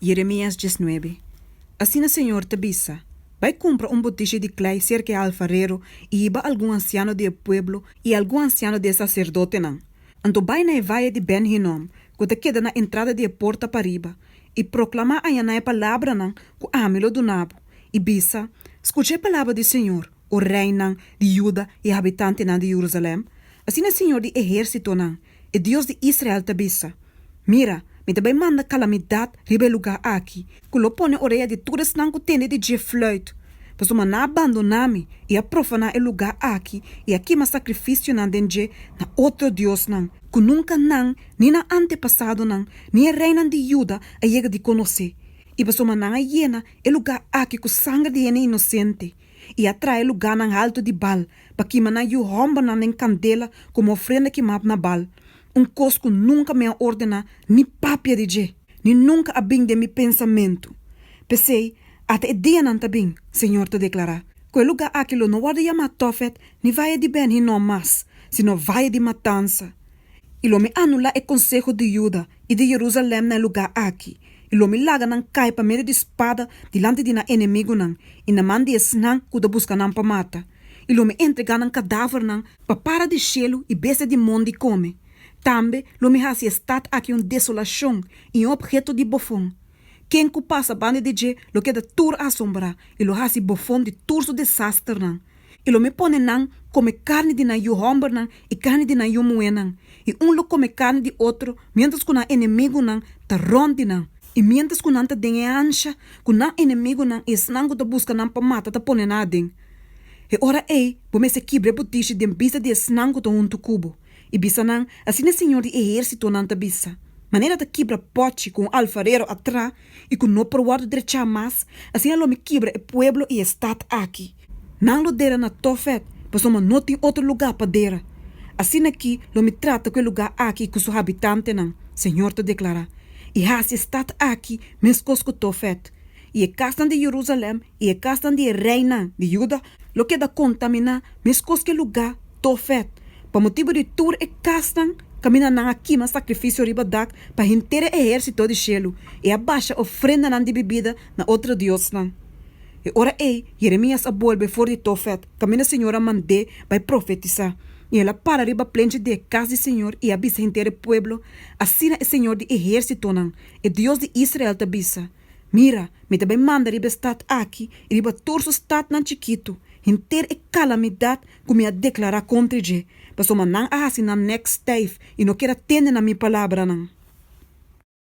Jeremias dies nuebe Asina Señor ta bisa, Bai kumpra un butishi di klei serka e alfarero, i hiba algun ansiano di e pueblo i algun ansiano di e saserdotenan. Anto bai na e vaye di Ben-Hinom, ku ta keda na entrada di e porta pariba, i proklamá añanan e palabranan ku ami lo duna bo, i bisa, Skucha e palabra di Señor, o reinan di Yuda i habitantenan di Yerusalèm, Asina Señor di ehérsitonan, E Dios di Israel ta bisa, Mira, mi ta bai manda kalamidat riba e lugá aki, ku lo pone orea di tur esnan ku tende di dje flùit, pasobra nan a bandoná mi i a profaná e lugá aki i a kima sakrifisionan den dje na otro diosnan, ku nunka nan, ni nan antepasadonan, ni e reinan di Juda a yega di konosé, i pasobra nan a yena e lugá aki ku sangre di hende inosente, i a traha e lugánan haltu di Baal, pa kima nan yu hòmbernan den kandela komo ofrenda kimá op Nabal, un kos ku nunka mi a ordená ni papia di dje, ni nunka a bin den mi pensamentu. P'esei, ata e dianan ta bin, señor ta deklará, ku e lugá aki lo no wòrdu yamá Tòfet ni Vaye di Ben Hínòm mas, sino Vaye di Matansa, I lo mi anulá e konseho di Juda i di Jerusalèm na e lugá aki, i lo mi laga nan kai pa medio di spada dilanti di nan enemigunan i na man di esnan ku ta buska nan pa mata, i lo mi entregá nan kadavernan pa para di shelu i bestia di mondi kome. Tambe lo mi hasi e stat aki un desolashon i un opheto di bofon. Ken ku pasa banda di dje lo keda tur asombrá i lo hasi bofon di tur su desasternan, i lo mi pone nan kome karni di nan yu hòmbernan i karni di nan yu muhénan, i un lo kome karni di otro, miéntras ku nan enemigunan ta rònt di nan. I miéntras ku nan ta den e ansha ku nan enemigunan i esnan ku ta buska nan pa mata ta pone nan aden, e ora ei bo mester kibra e botishi den bista di esnan ku ta huntu ku bo, i bisa nan, Asina e Señor di ehérsitonan ta bisa, Manera ta kibra pòchi ku un alfarero a tra i ku no por wòrdu drechá mas, asina lo mi kibra e pueblo i e stat aki. Nan lo dera na Tofet, pasobra no tin otro lugá pa dera. Asina akí lo mi trata ku e lugá akí i ku su habitantenan, señor ta deklará, i hasi e stat akí meskos ku Tofet, i e kasnan di Jerusalèm i e kasnan di e reinan di Juda lo keda kontaminá meskos ku e lugá Tofet, pa motibu di tur e kasnan kaminda nan a kima sakrifisio riba dak pa henter e ehérsito di shelu i a basha ofrendanan di bibida na otro diosnan. E ora ei, Jeremias a bolbe for di Tofet, kaminda Señor a mand'é bai profetisá. I el a para riba plenchi di e kas di Señor i a bisa henter e pueblo, Asina e Señor di ehérsitonan, e Dios di Israel ta bisa, Mira, mi ta bai manda riba e stat aki i riba tur su statnan chikitu, henter e kalamidat ku mi a deklará kontra dje, pasobra nan a hasi nan nèk stèf i no ker atende na mi palabranan.